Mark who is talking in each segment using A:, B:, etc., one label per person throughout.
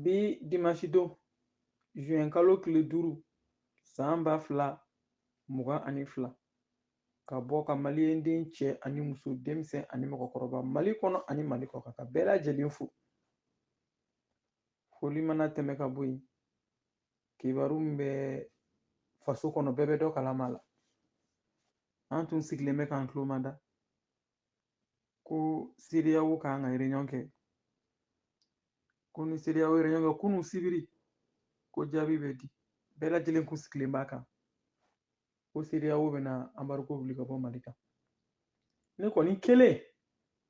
A: bi dimansi don zuwɛn kalo tile duuru san ba fila mugan ani fila ka bɔ ka maliyɛnden cɛ ani muso denmisɛn ani mɔgɔkɔrɔba mali kɔnɔ ani mali kɔ ka bɛɛ lajɛlen fo foli mana tɛmɛ ka bɔ yen kibaru min bɛ faso kɔnɔ bɛɛ bɛ dɔ kalama la an tun sigilen bɛ k'an tulo mada ko CEDEAO ka kan ka réunion kɛ ko ni CEDEAO ye réunion kɛ kunu sibiri ko jaabi bɛ di bɛɛ lajɛlen kun sigilen b'a kan ko CEDEAO bɛna embargo wuli ka bɔ Mali kan ne kɔni kelen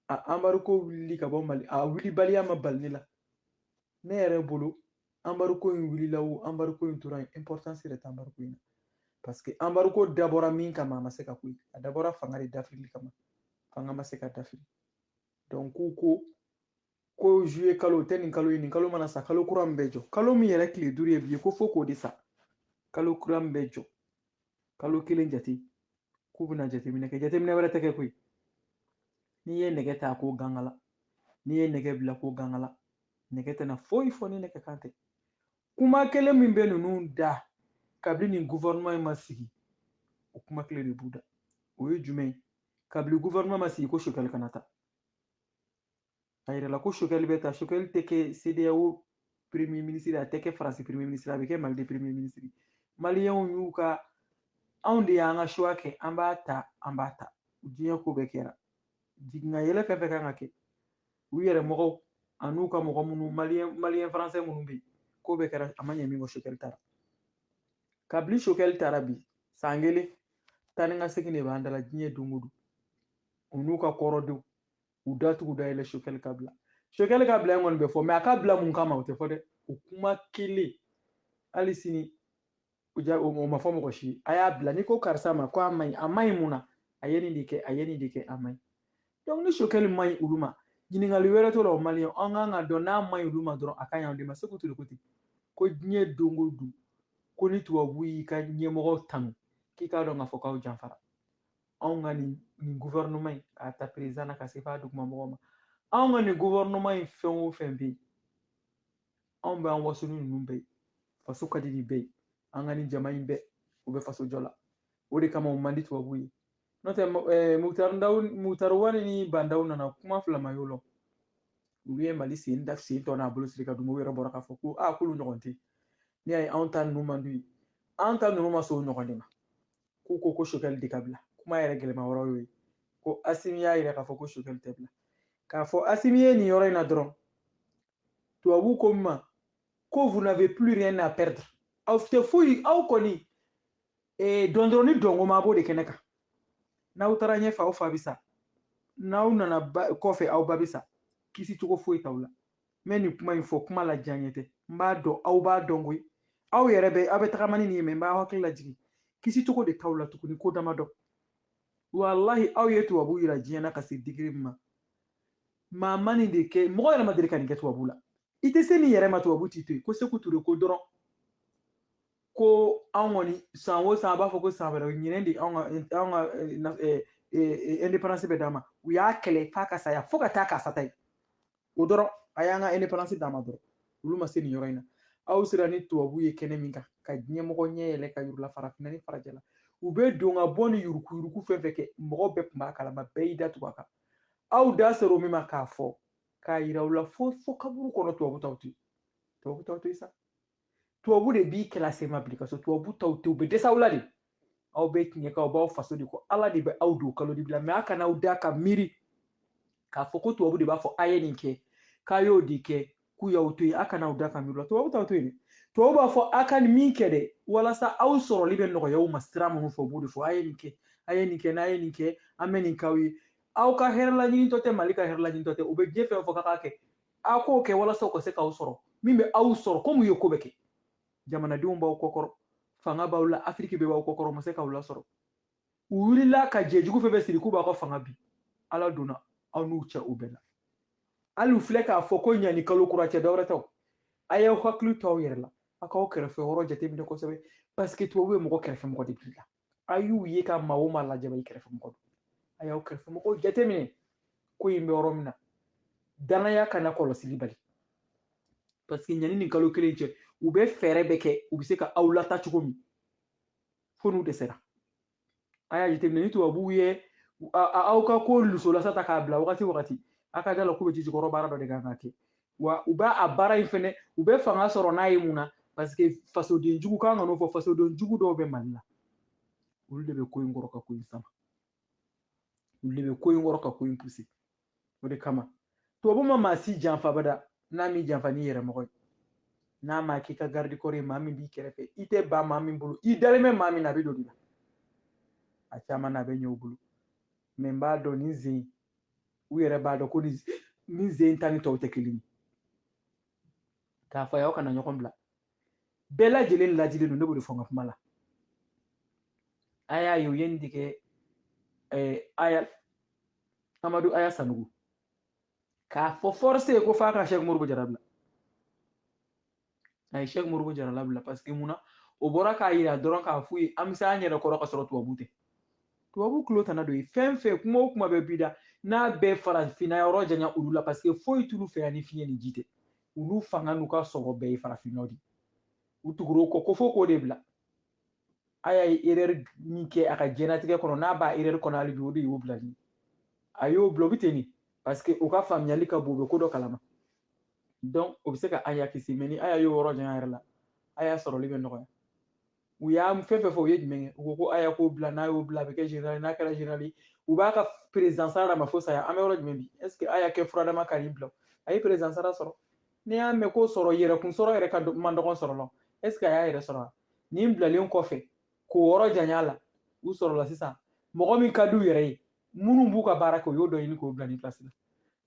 A: a embargo wulili ka bɔ Mali a wulibaliya ma bali ne la ne yɛrɛ bolo embargo in wulila o embargo in tora yen importance yɛrɛ tɛ embargo in na parce que embargo dabɔra min kama a ma se ka ko ye a dabɔra fanga de dafirili kama fanga ma se ka dafiri donc k'u ko ko juillet kalo o tɛ nin kalo ye nin kalo mana sa kalo kura min bɛ jɔ kalo min yɛrɛ tile duuru ye bi ye ko fo k'o de sa kalo kura min bɛ jɔ kalo kelen jate k'u bɛna jateminɛ kɛ jateminɛ wɛrɛ tɛ kɛ koyi n'i ye nɛgɛ ta ko gangala n'i ye nɛgɛ bila ko gangala nɛgɛ tɛna foyi fɔ ni nɛgɛ kan tɛ kuma kelen min bɛ ninnu da kabini nin gouvernement in ma sigi o kuma kelen de b'u da o ye jumɛn ye kabini gouvernement ma sigi ko Choguel kana ta a yirala ko Choguel bɛ ta Choguel tɛ kɛ CEDEAO premier ministre a tɛ kɛ faransi premier ministre a bɛ kɛ mali de premier ministre maliyɛnw y'u ka anw de y'an ka choix kɛ an b'a ta an b'a ta diɲɛ ko bɛɛ kɛra jiginna yɛlɛ fɛn o fɛn ka kan ka kɛ u yɛrɛ mɔgɔw an'u ka mɔgɔ minnu maliyɛn maliyɛn faransɛ minnu bɛ yen k'o bɛɛ kɛra a ma ɲɛ min kɔ Choguel tara kabini Choguel tara bi san kelen taa ni ka segin de b'an da la diɲɛ don o don u n'u ka kɔrɔdenw u da tugu da yɛlɛ Choguel ka bila Choguel ka bila in kɔni bɛ fɔ mais a ka bila mun kama o tɛ fɔ dɛ o kuma kelen hali sini o ja o ma fɔ mɔgɔ si a y'a bila n'i ko karisa ma ko a man ɲi a man ɲi mun na a ye nin de kɛ a ye nin de kɛ a man ɲi donc ni Choguel man ɲi olu ma ɲininkali wɛrɛ t'o la o maliyɛn an ka kan k'a dɔn n'a man ɲi olu ma dɔrɔn a ka ɲi anw de ma Sékou Touré ko ten ko diɲɛ don o don ko ni tubabu y'i ka ɲɛmɔgɔ tanu k'i k'a dɔn k'a fɔ k'aw janfara anw ka nin nin gouvernement in k'a ta président na ka se f'a duguma mɔgɔ ma anw ka nin gouvernement in fɛn o fɛn bɛ yen anw bɛ an waso ni ninnu bɛɛ ye faso ka di nin bɛɛ ye an ka nin jama in bɛɛ u bɛ faso jɔ la o de kama u man di tubabu ye n'o tɛ Moctar Ouane ni Bah N'Daw nana kuma fila ma y'o la u ye mali sen da sen tɔ n'a bolo siri ka dugu yɛrɛ bɔra k'a fɔ ko a k'olu ɲɔgɔn tɛ ne y'a ye anw ta ninnu man d'u ye an ta ninnu ma sɔn o ɲɔgɔn de ma k'u ko ko choguel de ka bila kuma yɛrɛ gɛlɛma yɔrɔ y'o ye ko asimi y'a yira k'a fɔ ko choguel tɛ bila k'a fɔ asimi ye nin yɔrɔ in na dɔrɔn tubabu ko min ma ko vous n'avez plus rien à perdre aw tɛ foyi aw kɔni eh, dɔndɔrɔn ni dɔnko ma b'o de kɛnɛ kan n'aw taara ɲɛfɛ aw fa bɛ sa n'aw nana kɔfɛ aw ba bɛ sa kisi cogo foyi t'aw la n bɛ nin kuma in fɔ kuma la diya ɲɛ tɛ n b'a dɔn aw b'a dɔn koyi aw yɛrɛ bɛ aw bɛ tagama ni nin ye mɛ n b'aw hakili lajigin kisi cogo de t'aw la tuguni ko dama dɔ walahi aw ye tubabu yira diɲɛ na ka se digiri min ma maa ma nin de kɛ mɔgɔ yɛrɛ ma deli ka nin kɛ tubabu la i tɛ se nin yɛrɛ ma tubabu t'i to yen ko seku ture ko dɔrɔn ko anw kɔni san o san a b'a fɔ ko san wɛrɛ ɲinan de anw ka anw ka eh, eh, eh, indépendance bɛ d'an ma u y'a kɛlɛ f'a ka saya fo ka taa k'a sata ye o dɔrɔn a y'an ka indépendance d'an ma dɔrɔn olu ma se nin yɔrɔ in na aw sera ni tubabu ye kɛnɛ min kan ka diɲɛmɔgɔ ɲɛ yɛlɛ ka yurula farafinna ni farajɛla u bɛ don ka bɔ ni yurugu yurugu fɛn fɛn kɛ mɔgɔ bɛɛ tun b'a kalama bɛɛ y'i da tugu a kan aw da sera o min ma k'a fɔ k'a yira u la fo fo kaburu kɔnɔ tubabu t'aw to yen tubabu t'aw to yen sa tubabu de b'i kɛla sema bili ka so tubabu t'aw to yen u bɛ dɛsɛ aw la de aw bɛ tiɲɛ kan aw b'aw faso de kɔ ala de bɛ aw don kalo dibi la mɛ a kana aw da ka miiri k'a fɔ ko tubabu de b'a fɔ a ye nin kɛ k'a y'o de kɛ k'u y'aw to yen a kana aw da ka miiri la tubabu t'aw to yen dɛ tubabu b'a fɔ a ka nin min kɛ dɛ walasa aw sɔrɔli bɛ nɔgɔya u ma sira minnu fɛ u b'o de fɔ a ye nin kɛ a ye nin kɛ n'a ye nin kɛ an bɛ nin k'aw ye aw ka hɛrɛ laɲinitɔ tɛ mali ka hɛrɛ laɲinitɔ tɛ u bɛ diɲɛ fɛn o fɛn fɔ k'a k'a kɛ a k'o kɛ walasa u ka se k'aw sɔrɔ min bɛ aw sɔrɔ komi u ye ko bɛɛ kɛ jamanadenw b'aw kɔkɔrɔ fanga b'aw la afiriki bɛɛ b'aw kɔkɔrɔ ma se k'aw lasɔrɔ u wulila ka jɛ jugu fɛn bɛɛ siri k'u b'a ka fanga bin ala donna aw n'u cɛ u bɛɛ la hali u filɛ k'a fɔ ko yani kalo kura cɛ dɔwɛrɛ tɛ a y'aw hakili to aw yɛrɛ la a k'aw kɛrɛfɛ yɔrɔ jateminɛ kosɛbɛ paseke tubabu bɛ mɔgɔ kɛrɛfɛ mɔgɔ de bil'i la a y'u ye ka maa o maa lajaba i kɛrɛfɛ mɔgɔ don a y'aw kɛrɛfɛ mɔgɔw jateminɛ ko in bɛ yɔrɔ min na dannaya kana kɔlɔsili bali paseke yani ni kalo kelen cɛ u bɛ fɛɛrɛ bɛɛ kɛ u bɛ se ka aw lata cogo min fo n'u dɛsɛra a y'a jateminɛ ni tubabuw ye aw ka ko lusolasa ta k'a bila wagati wagati a ka d'a la k'u bɛ jijukɔrɔ baara dɔ de kan ka kɛ wa u b'a a baara in fɛnɛ u bɛ fanga sɔrɔ n'a ye mun na paseke fasoden jugu kan ka n'o fɔ fasoden jugu dɔw bɛ mali la olu de bɛ ko in kɔrɔ ka ko in sama olu de bɛ ko in kɔrɔ ka ko in puse o de kama tubabu ma maa si janfa abada n'a m'i janfa n'i yɛrɛ mɔgɔ ye n'a ma k'i ka garde-corps ye maa min b'i kɛrɛfɛ i tɛgɛ bɛ maa min bolo i dalen bɛ maa min na a bɛ don o de la a caman na a bɛ ɲɛ u bolo mɛ n b'a dɔn nin zen u yɛrɛ b'a dɔn ko ni min zen ta ni tɔw tɛ kelen ye k'a fɔ aw kana ɲɔgɔn bila bɛɛ lajɛlen lajilen don ne b'o de fɔ n ka kuma la a y'a ye u ye nin de kɛ aya amadu aya sanɔgɔ k'a fɔ force ye ko f'a ka sɛk moribo jara bila a ye sɛki moribo jara labila paseke mun na o bɔra k'a yira dɔrɔn k'a f'u ye an bɛ se an yɛrɛ kɔrɔ ka sɔrɔ tubabu tɛ tubabu tulo tana d'o ye fɛn fɛn kuma o kuma bɛɛ b'i da n'a bɛ farafinna yɔrɔ janya olu la paseke foyi t'olu fɛ yan ni fiɲɛ ni ji tɛ olu fanga n'u ka sɔrɔ bɛɛ ye farafinnaw de u tugura a kɔ ko fo k'o de bila a y'a ye erɛri min kɛ a ka jɛnatigɛ kɔnɔ n'a b'a erɛri kɔnɔ hali bi o de y'o bilali a y'o bila o bɛ ten de paseke o ka faamuyali ka bon o bɛ ko dɔ kalama donc o bɛ se ka aya kisi mɛ ni aya y'o yɔrɔ janya a yɛrɛ la aya sɔrɔli bɛ nɔgɔya u y'a fɛn fɛn fɔ u ye jumɛn kɛ u ko ko aya k'o bila n'a y'o bila a bɛ kɛ generali n'a kɛra generali u b'a ka perezan sara d'a ma fo saya an bɛ yɔrɔ jumɛn bi est ce que aya kɛ furadama ka nin bila a ye perezan sara sɔrɔ n'i y'a mɛn ko sɔrɔ yɛrɛkun sɔrɔ yɛrɛ ka man dɔgɔn sɔrɔ la est ce que a y'a yɛrɛ sɔrɔ wa nin bilalen kɔfɛ k'o yɔrɔ janya la u sɔrɔla sisan mɔgɔ min ka di u yɛrɛ ye minnu b'u ka baara kɛ u y'o dɔ ɲini k'o bila nin pilasi la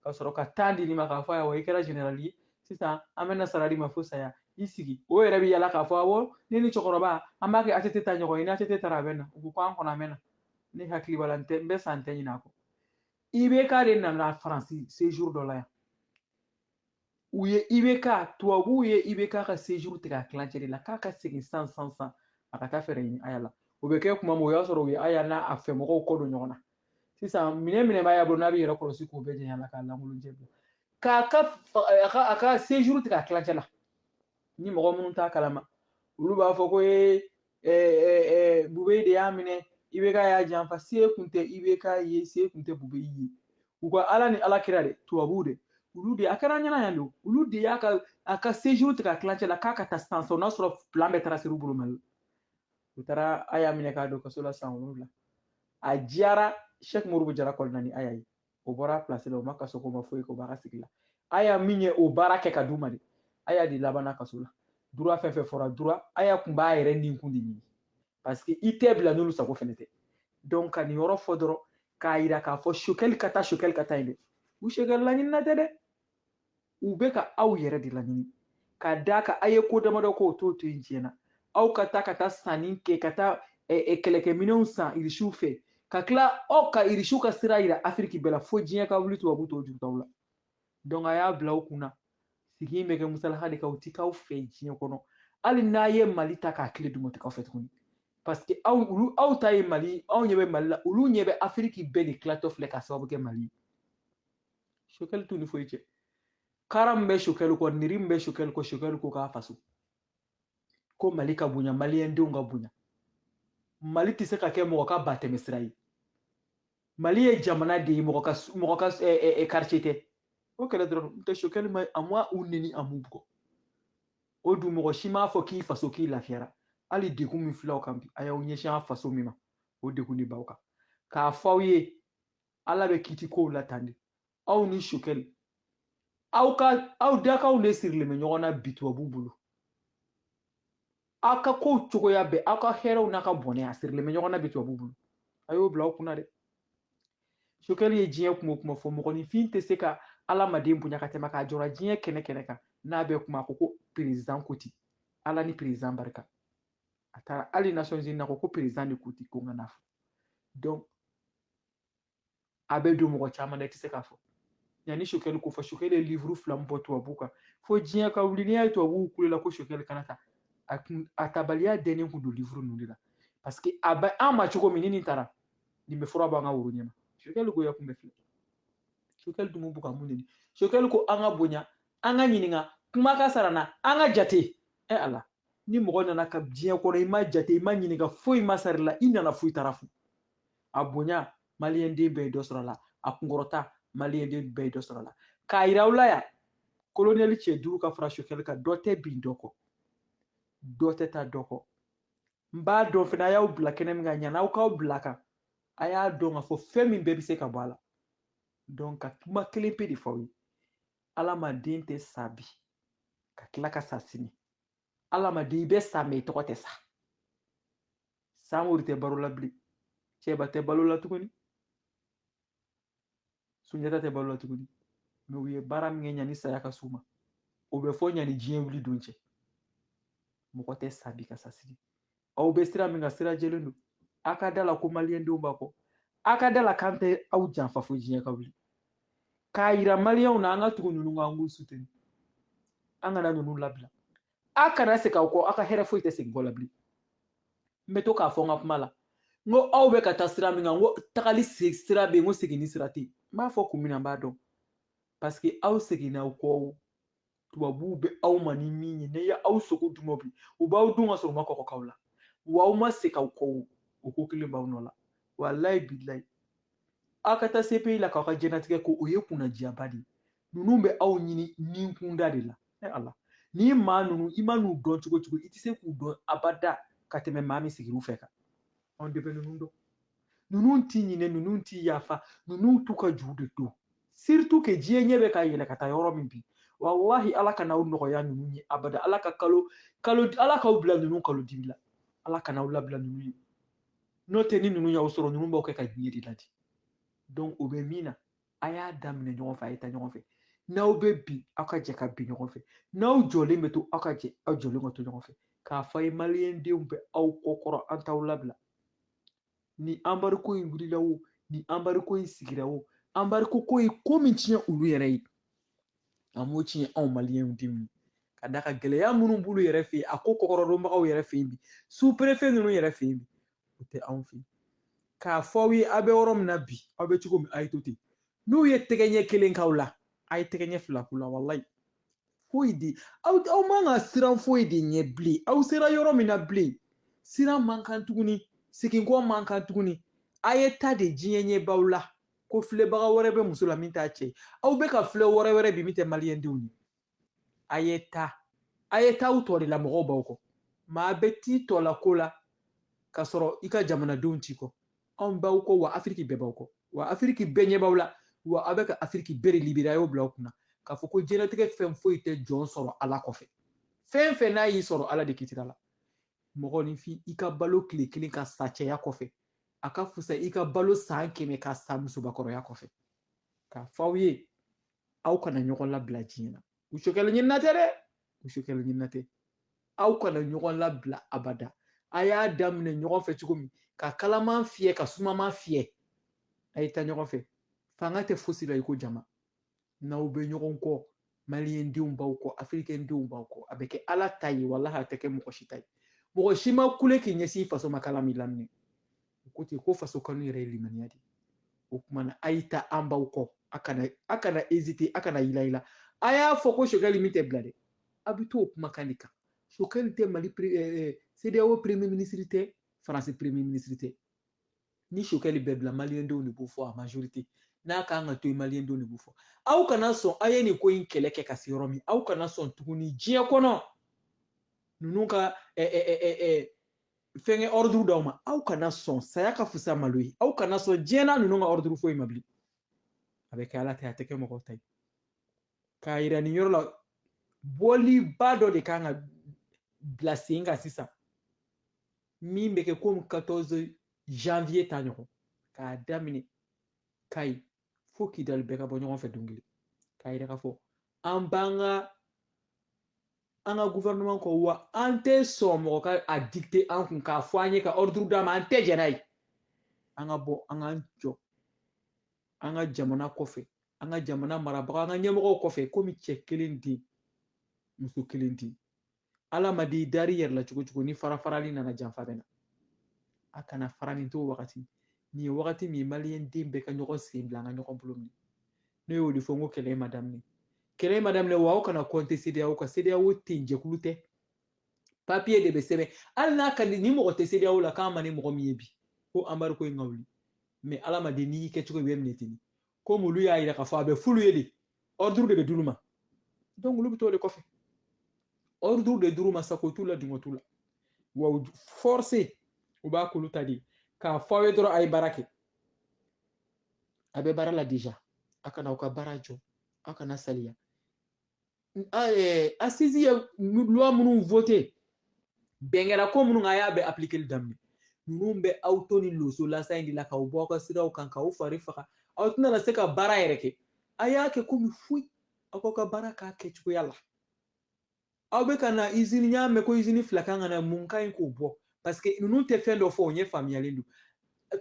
A: ka sɔrɔ ka taa di nin ma k'a fɔ ayiwa i kɛra generali ye sisan an bɛna sara d'i ma fo saya i sigi o yɛrɛ bɛ yala k'a fɔ awɔ ne ni cɛkɔrɔba an b'a kɛ atete ta ɲɔgɔn ye ni atete taara a bɛ na u ko ko an kɔnɔ a mɛnna ne hakili b'a la n tɛ n bɛ sa n tɛ ɲinɛ a kɔ ibeka de nana faransi sejour dɔ la yan u ye ibeka tubabuw ye ibeka ka sejuru tigɛ a tilancɛ de la k'a ka segin san san san a ka taa fɛɛrɛ ɲini aya la o bɛ kɛ kuma min o y'a sɔrɔ u ye aya n'a a fɛ mɔgɔw kɔ don ɲɔgɔn na sisan minɛn minnu b'aya bolo n'a b'a yɛrɛ kɔlɔsi k'o bɛɛ jɛɲa la k'a lankolon jɛ bila k'a ka a ka a ka sejuru tigɛ a tilancɛ la ni mɔgɔ minnu t'a kalama olu b'a fɔ ko ee ɛɛ bubɛyi de y'a minɛ ibeka y'a janfa se kun tɛ ibeka ye se kun tɛ bubɛyi ye u ka ala ni ala kira de tubabuw de olu de a kɛra n ɲɛna yan dɛ olu de y'a ka a ka sejour tigɛ a tilancɛ la k'a ka taa san san o n'a sɔrɔ plan bɛɛ tarasera u bolo mali la u taara a y'a minɛ k'a don kaso la san wolonwula a diyara sɛk moribo jara kɔlɔnani a y'a ye o bɔra a place la o ma kaso kɛ o ma foyi kɛ o b'a ka sigi la aya min ye o baara kɛ ka d'u ma de aya de labanna kaso la dura fɛn fɛn fɔra dura aya kun b'a yɛrɛ nin kun de ɲini parce que i tɛ bila n'olu sago fɛnɛ tɛ donc ka nin yɔrɔ fɔ dɔrɔn k'a yira k'a fɔ sokɛli ka taa sokɛli ka taa yen dɛ u sokɛli laɲinina tɛ dɛ u bɛ ka aw yɛrɛ de laɲini ka d'a kan a ye ko damadɔ k'o t'o to yen diɲɛ na aw ka taa ka taa sanni kɛ ka taa kɛlɛkɛminɛnw san irisiw fɛ ka tila aw ka irisiw ka sira yira afiriki bɛɛ la fo diɲɛ ka wuli tubabu t'o juru t'aw la donc a y'a bila aw kun na sigi in bɛ kɛ musalaha de kan u tɛ k'aw fɛ diɲɛ kɔnɔ hali n'a ye mali ta k'a tila d'u ma u tɛ k'aw fɛ tuguni parce que aw olu aw ta ye mali anw ɲɛ bɛ mali la olu ɲɛ bɛ afiriki bɛɛ de tilatɔ filɛ ka sababu kɛ mali ye sokɛli t'u ni foyi cɛ kara min bɛ sokɛli kɔ nɛri min bɛ sokɛli kɔ sokɛli ko k'a faso ko mali ka bonya maliyɛndenw ka bonya mali tɛ se ka kɛ mɔgɔ ka batɛmɛsira ye mali ye jamana de ye mɔgɔ ka mɔgɔ ka karice tɛ o kelen dɔrɔn n'o tɛ sokɛli ma a ma u neni a m'u bugɔ o dun mɔgɔ si m'a fɔ k'i faso k'i lafiyara hali degun min fil'aw kan bi a y'aw ɲɛsin a faso min ma o degun de b'aw kan k'a fɔ aw ye ala bɛ kiti kow la tan de aw ni sokɛli aw ka aw dakanw de sirilen bɛ ɲɔgɔn na bi tubabu bolo aw ka kow cogoya bɛɛ aw ka hɛrɛw n'a ka bɔnɛ a sirilen bɛ ɲɔgɔn na bi tubabu bolo a y'o bila aw kunna dɛ sokɛli ye diɲɛ kuma o kuma fɔ mɔgɔninfin tɛ se ka alamaden bonya ka tɛmɛ k'a jɔra diɲɛ kɛnɛ kɛnɛ kan n'a bɛ kuma ko ko perezan ko ten ala ni perezan barika a taara hali nasɔnzini ko ko perezan de ko ten ko n ka n'a fɔ donc a bɛ don mɔgɔ caman na i tɛ se k'a fɔ yanni sokɛli ko fɔ sokɛli ye livuru fila min bɔ tubabuw kan fo diɲɛ ka wuli n'i y'a ye tubabuw kulola ko sokɛli kana ta a kun a tabaliya dɛnnen kun don livuru ninnu de la paseke a bɛ an ma cogo min ni nin taara nin bɛ fura b'an ka woro ɲɛma sokɛli goya kun bɛɛ filɛ sokɛli dun b'u ka mun de sokɛli ko an ka bonya an ka ɲininka kuma ka sara an na an ka jate ɛ ala ni mɔgɔ nana ala ka diɲɛ kɔnɔ i ma jate i ma ɲininka foyi ma sar'i la i nana fu i taara fu a bonya maliyɛnden bɛɛ ye dɔ sɔrɔ la a kunkɔrɔta maliyɛnden bɛɛ ye dɔ sɔrɔ la k'a yira aw la yan kolonɛli cɛ duuru ka fara sokɛli kan dɔ tɛ bin dɔ kɔ dɔ tɛ taa dɔ kɔ n b'a dɔn fana a y'aw bila kɛnɛ min kan ɲani aw k'aw bil'a kan a y'a dɔn k'a fɔ fɛn min bɛɛ bɛ se ka bɔ a la donc n ka kuma kelen pe de fɔ aw ye alamaden tɛ sa bi ka tila ka sa sini alamaden i bɛ sa mɛ i tɔgɔ tɛ sa samori tɛ balo la bilen cɛba tɛ balo la tuguni sunjata tɛ balo la tuguni mɛ u ye baara min kɛ ɲani saya ka s'u ma o bɛ fɔ ɲani diɲɛ wuli don cɛ mɔgɔ tɛ sa bi ka sa sini aw bɛ sira min kan sira jɛlen don a ka da la ko maliyɛndenw b'a kɔ a ka da la k'an tɛ aw janfa fo diɲɛ ka wuli k'a yira maliyɛnw na an ka tugu ninnu kan an k'u suteni an kana ninnu labila a kana segin aw kɔ aw ka hɛrɛ foyi tɛ segin kɔ la bilen n bɛ to k'a fɔ n ka kuma la n ko aw bɛ ka taa sira min kan n ko tagali sira bɛ yen n ko seginni sira tɛ yen n b'a fɔ kun min na n b'a dɔn paseke aw seginna aw kɔ tubabuw bɛ aw ma ni min ye n'u ye aw sogo dun bi u b'aw dun ka sɔrɔ u ma kɔkɔ k'aw la wa aw ma se k'aw kɔ o ko kelen b'aw nɔ la walayi bilayi aw ka taa sepi la k'aw ka diɲɛlatigɛ ko o ye kunnadiyaba de ye ninnu bɛ aw ɲini nin kunda de la e ala ni maa ninnu i man'u dɔn cogo o cogo i tɛ se k'u dɔn abada ka tɛmɛ maa min sigir'u fɛ kan anw de bɛ ninnu dɔn ninnu ti ɲinɛ ninnu ti yafa ninnu t'u ka juru de don surtout que diɲɛ ɲɛ bɛ ka yɛlɛ ka taa yɔrɔ min bi walahi ala kana aw nɔgɔya ninnu ye abada ala ka kalo kalo ala k'aw bila ninnu kalo dibi la ala kana aw labila ninnu ye n'o tɛ ni ninnu y'aw sɔrɔ ninnu b'aw kɛ ka diɲɛ de ladi donc o bɛ min na a y'a daminɛ ɲɔgɔn fɛ a ye taa ɲɔgɔn fɛ n'aw bɛ bin aw ka jɛ ka bin ɲɔgɔn fɛ n'aw jɔlen bɛ to aw ka jɛ aw jɔlen ka to ɲɔgɔn fɛ k'a fɔ a ye maliyɛndenw bɛ aw kɔkɔrɔ an t'aw labila ni anbariko in wulila o ni anbariko in sigira o anbariko ko ye ko min tiɲɛ olu yɛrɛ ye a m'o tiɲɛ anw maliyɛndenw ye k'a d'a kan gɛlɛya minnu b'olu yɛrɛ fɛ yen a ko kɔkɔrɔdonbagaw yɛrɛ fɛ yen bi superefe ninnu yɛrɛ fɛ yen bi o tɛ anw fɛ k'a fɔ aw ye aw bɛ yɔrɔ min na bi aw bɛ cogo min a ye to ten n'u ye tɛgɛ ɲɛ kelen k'aw la a ye tɛgɛ ɲɛ fila k'u la walayi foyi de aw aw man kan siran foyi de ɲɛ bilen aw sera yɔrɔ min na bilen siran man kan tuguni seginkɔ man kan tuguni a ye taa dɛ diɲɛ ɲɛ b'aw la ko filɛbaga wɛrɛ bɛ muso la min t'a cɛ aw bɛ ka filɛ wɛrɛ wɛrɛ bi min tɛ maliyɛndenw ye a ye taa a ye t'aw tɔn de la mɔgɔw b'aw kɔ maa bɛ t'i tɔn la ko la ka sɔrɔ i ka jamanadenw t'i kɔ anw b'aw kɔ wa afiriki bɛɛ b'aw kɔ wa afiriki bɛɛ ɲɛ b'aw la wa aw bɛ ka afiriki bɛɛ de libere a y'o bila aw kunna k'a fɔ ko diɲɛlatigɛ fɛn foyi tɛ jɔn sɔrɔ ala kɔfɛ fɛn o fɛn n'a y'i sɔrɔ ala de kitira la mɔgɔninfin i ka balo tile kelen ka sa cɛya kɔfɛ a ka fusa i ka balo san kɛmɛ ka sa musobakɔrɔya kɔfɛ k'a fɔ aw ye aw kana ɲɔgɔn labila diɲɛ na muso kɛlɛ ɲinina tɛ dɛ muso kɛlɛ ɲinina tɛ aw kana ɲɔgɔn labila abada a y'a daminɛ ɲɔgɔn fɛ cogo min ka kalaman fiyɛ ka sumaman fiyɛ a ye taa ɲɔgɔn fɛ fanga tɛ fosi la i ko jama n'aw bɛ ɲɔgɔn kɔ maliyɛndenw b'aw kɔ afirikɛndenw b'aw kɔ a bɛ kɛ ala ta ye walahi a tɛ kɛ mɔgɔ si ta ye mɔgɔ si ma kule k'i ɲɛsin i faso ma kala min laminɛ u ko ten ko faso kanu yɛrɛ ye limaniya de o tuma na a y'i ta an b'aw kɔ a kana a kana ezite a kana yila yila a y'a fɔ ko sokɛli min tɛ bila dɛ a bɛ to o kumakan de kan sokɛli tɛ mali cedeao premier ministre tɛ faransi premier ministre tɛ ni sokɛli bɛ bila maliyɛndenw de b'o fɔ a majorité n'a ka kan ka to yen maliyɛndenw de b'o fɔ aw kana sɔn aw ye nin ko in kɛlɛ kɛ ka se yɔrɔ min aw kana sɔn tuguni diɲɛ kɔnɔ ninnu ka fɛnkɛ ordre d'aw ma aw kana sɔn saya ka fusa malo ye aw kana sɔn diɲɛ na ninnu ka ordre foyi ma bilen a bɛ kɛ ala ta a tɛ kɛ mɔgɔ ta ye k'a yira nin yɔrɔ la bɔliba dɔ de ka kan ka bila sen kan sisan min bɛ kɛ komi 14 janvier ta ɲɔgɔn k'a daminɛ kayi fo kidali bɛɛ ka bɔ ɲɔgɔn fɛ don kelen k'a yira k'a fɔ an b'an ka an ka gouvernement kɔ wa an tɛ sɔn mɔgɔ ka a dicter an kun k'a fɔ an ye ka ordre d'an ma an tɛ jɛn n'a ye an ka bɔ an k'an jɔ an ka jamana kɔfɛ an ka jamana marabaga an ka ɲɛmɔgɔw kɔfɛ komi cɛ kelen den muso kelen den alamadi da i yɛrɛ la cogo o cogo ni farafarali nana janfa bɛ na a kana fara nin to wagati nin ye wagati min ye maliyɛn den bɛɛ ka ɲɔgɔn sen bila an ka ɲɔgɔn bolo minɛ ne y'o de fɔ n ko kɛlɛ ma daminɛ kɛlɛ ma daminɛ wa aw kana kɔnte sedeyaw kan sedeyaw tɛ yen jɛkulu tɛ papiye de bɛ sɛbɛn hali n'a ka di ni mɔgɔ tɛ sedeyaw la k'a man di mɔgɔ min ye bi ko anbarigo in ka wuli mɛ alamadi n'i y'i kɛ cogo i bɛ minɛ ten komi olu y'a yira k'a fɔ a bɛ f'olu ye de ɔriduru de bɛ d'olu ma donc olu bɛ t'o de kɔfɛ ɔriduru de d'olu ma sago t'u la dungɔ t'u la wa u force u b'a k'olu ta de k'a fɔ aw ye dɔrɔn a ye baara kɛ a bɛ baara la deja a kana aw ka baara jɔ aw kana saliya asizi ye luwa minnu vote bɛn kɛra ko minnu kan a y'a bɛ aplikeli daminɛ ninnu bɛ aw to ni loso lasa in de la k'aw bɔ aw ka siraw kan k'aw fari faga aw tɛna se ka baara yɛrɛ kɛ a y'a kɛ komi foyi aw k'aw ka baara k'a kɛcogoya la aw bɛ ka na izini n y'a mɛn ko izini fila kan ka na mun ka ɲi k'o bɔ paseke ninnu tɛ fɛn dɔ fɔ o ɲɛ faamuyalen don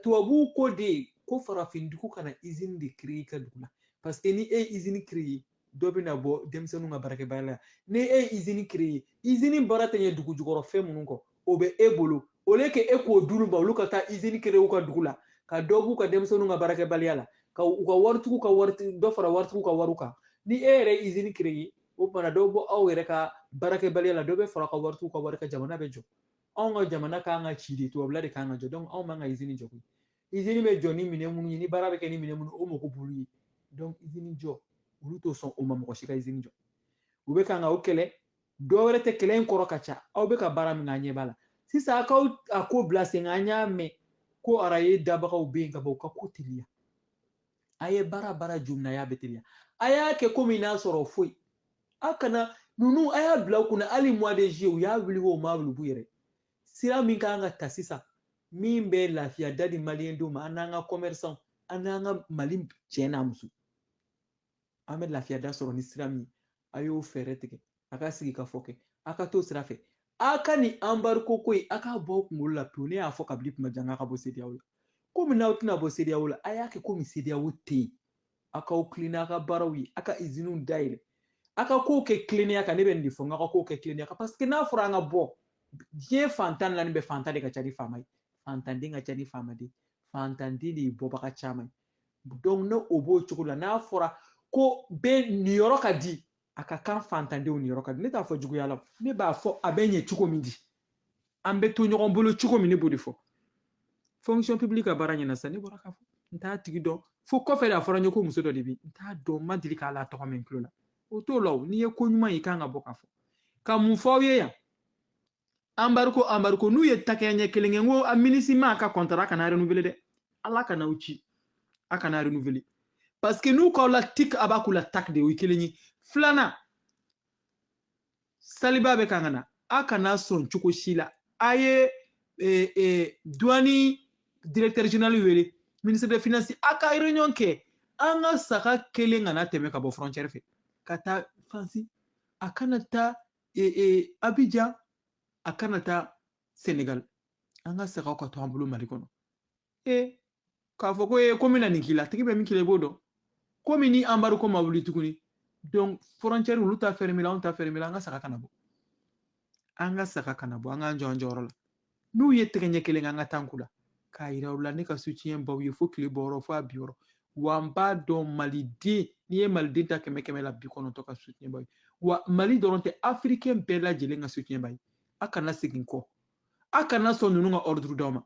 A: tubabuw ko de ye ko farafindugu kana izini de kere i ka dugu la paseke ni e ye izini kereye dɔ bɛna bɔ denmisɛnninw ka baarakɛbaliya la ni e ye izini kereye izini baara tɛ ɲɛ dugu jukɔrɔ fɛn minnu kɔ o bɛ e bolo olu ko e k'o d'olu ma olu ka taa izini kere u ka dugu la ka dɔ b'u ka denmisɛnninw ka baarakɛbaliya la ka u ka waritigiw ka wari dɔ fara waritigiw ka wariw kan ni e yɛrɛ izini kereye o tuma na dɔ bɛ bɔ aw yɛrɛ ka baarakɛbaliya la dɔ bɛ fara ka waritigiw ka wari kan jamana bɛ jɔ anw ka jamana kan ka ci de tubabula de kan ka jɔ donc anw man kan ka izini jɔ koyi izini bɛ jɔ ni minɛn minnu ye ni baara bɛ kɛ ni minɛn minnu o mago b'olu ye donc izini jɔ olu tɛ sɔn o ma mɔgɔ si ka izini jɔ u bɛ kan ka o kɛlɛ dɔ wɛrɛ tɛ kɛlɛ in kɔrɔ ka ca aw bɛ ka baara min kɛ an ɲɛ b'a la sisan a k'aw ka ko bila sen kan an y'a mɛn ko araye dabagaw bɛ yen ka bɔ u ka ko teliya a ye baara baara jumɛn y'a bɛ teliya a y'a kɛ komi n'a sɔrɔ foyi a kana ninnu a y'a bila u kunna hali mois de juillet u y'a wuli o ma wuli u yɛrɛ sira min kan ka ta sisan min bɛ lafiya da di maliyɛndenw ma an n'an ka commerçant an n'an ka mali cɛ n'a muso an bɛ lafiya da sɔrɔ ni sira min a y'o fɛɛrɛ tigɛ a ka sigikafɔ kɛ a ka t'o sira fɛ a ka nin anbariko ko ye a k'a bɔ aw kunkolo la pewu ne y'a fɔ kabili kuma jan k'a ka bɔ sedeyaw la komi n'aw tɛna bɔ sedeyaw la a y'a kɛ komi sedeyaw tɛ yen a k'aw tilen n'a ka baaraw ye a ka iziniw dayɛlɛ a ka kow kɛ tilennenya kan ne bɛ nin de fɔ n ka kow kɛ tilennenya kan paseke n'a fɔra an ka bɔ diɲɛ fan tan ni naani bɛɛ fantan de ka ca ni faama ye fantanden ka ca ni faamaden fantanden de ye bɔbaga caman ye donc ne o b'o cogo la n'a fɔra ko bɛɛ niyɔrɔ ka di a ka kan fantandenw niyɔrɔ ka di ne t'a fɔ juguya la ne b'a fɔ a bɛ ɲɛ cogo min di an bɛ to ɲɔgɔn bolo cogo min ne b'o de fɔ fonction publique ka baara ɲɛna sisan ne bɔra k'a fɔ n t'a tigi dɔn fo kɔfɛ de a fɔra n ye ko muso dɔ de bɛ yen n t'a dɔn n ma deli k'ale tɔgɔ mɛn n tulo la o t'o la o n'i ye ko ɲuman ye i kan ka bɔ k'a fɔ ka mun fɔ aw ye yan anbariko anbariko n'u ye takɛya ɲɛ kelen kɛ n ko a minisima ka kɔntara kana renouveler dɛ ala kama u ci a kana renouveler parce que n'u k'aw la tik a b'a k'u la tak de o ye kelen ye filanan saliba bɛ kan ka na a kana sɔn cogo si la a ye eh, eh, duwani directeur général wele ministre de finance a ka réunion kɛ an ka saga kelen kana tɛmɛ ka bɔ frontière fɛ ka taa fan si a kana taa e, e, abijan a kana taa senegal an ka sagaw ka to an bolo mali kɔnɔ e k'a fɔ ko e ko min na nin k'i la tigi bɛ min k'i la i b'o dɔn komi ni anbariko ma wuli tuguni donc frontière olu ta fɛrɛmila anw ta fɛrɛmila an ka saga kana bɔ an ka saga kana bɔ an k'an jɔ an jɔyɔrɔ la n'u ye tɛgɛ ɲɛ kelen kɛ an ka tan k'u la k'a yira u la ne ka soutien b'aw ye fo tile bɔyɔrɔ fo a binyɔrɔ wa n b'a dɔn maliden n'i ye maliden ta kɛmɛ kɛmɛ la bi kɔnɔntɔn ka soutien b'a ye wa mali dɔrɔn tɛ afirikɛn bɛɛ lajɛlen ka soutien b'a ye a kana segin kɔ a kana sɔn ninnu ka ɔriduru d'aw ma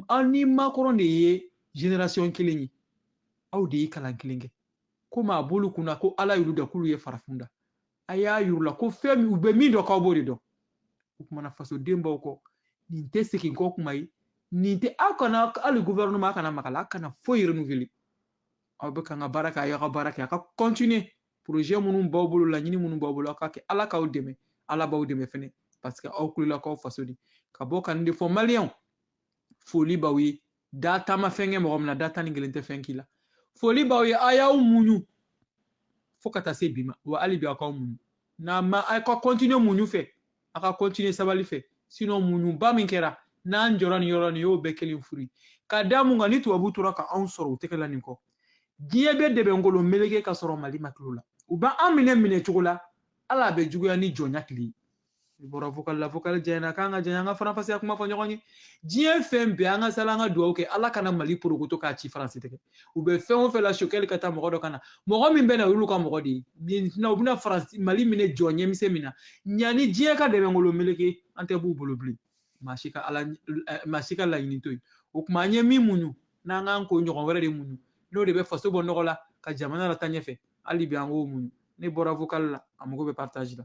A: aw ni makɔrɔn de ye generasiyɔn kelen ye aw de ye kalan kelen kɛ komi a b'olu kun na ko ala y'olu da k'olu ye farafin da a y'a yira u la ko fɛn min u bɛ min dɔn k'aw b'o de dɔn o kuma na fasoden b'aw kɔ nin tɛ segin kɔ kuma ye nin tɛ aw kana hali gouvernement kana maga a la aw kana foyi renouveler aw bɛ kan ka baara kɛ a y'aw ka baara kɛ a ka continuer projet minnu b'aw bolo laɲini minnu b'aw bolo aw ka kɛ ala k'aw dɛmɛ ala b'aw dɛmɛ fɛnɛ parce que aw wulila k'aw faso de ka bɔ ka nin de fɔ maliyɛnw foli b'aw ye da tan ma fɛn kɛ mɔgɔ min na da tan ni kelen tɛ fɛn k'i la foli b'aw ye a y'aw muɲu fo ka taa se bi ma wa hali bi aw k'aw muɲu n'a ma aw ka kɔntiniye muɲu fɛ a ka kɔntiniye sabali fɛ sinɔn muɲuba min kɛra n'an jɔra nin yɔrɔ nin y'o bɛɛ kɛlen fu de ye ka da mun kan ni tubabu tora ka anw sɔrɔ u tɛgɛ la nin kɔ diɲɛ bɛ dɛbɛnkolo meleke ka sɔrɔ mali ma tila u la u b'an minɛ minɛ cogo la ale bɛ juguya ni jɔnya tile ye i bɔra vocal la vocal janyana k'an ka janya an ka faranfasiya kuma fɔ ɲɔgɔn ye diɲɛ fɛn bɛɛ an ka sali an ka dugawu kɛ ala kana mali porokoto k'a ci faransi tɛgɛ u bɛ fɛn o fɛn la choguel ka taa mɔgɔ dɔ ka na mɔgɔ min bɛna olu ka mɔgɔ de ye nin u bɛna faransi mali minɛ jɔ ɲɛmisɛn min na yanni diɲɛ ka dɛbɛnkolo meleke an tɛ b'u bolo bilen maa si ka ala maa si ka laɲini to yen o tuma an ye min muɲu an ka kan k'o ɲɔgɔn wɛrɛ de muɲu n'o de bɛ faso bɔ nɔgɔ la ka jamana lataa ɲɛfɛ hali bi an k'o muɲu ne bɔra vocal la a mago bɛ partage la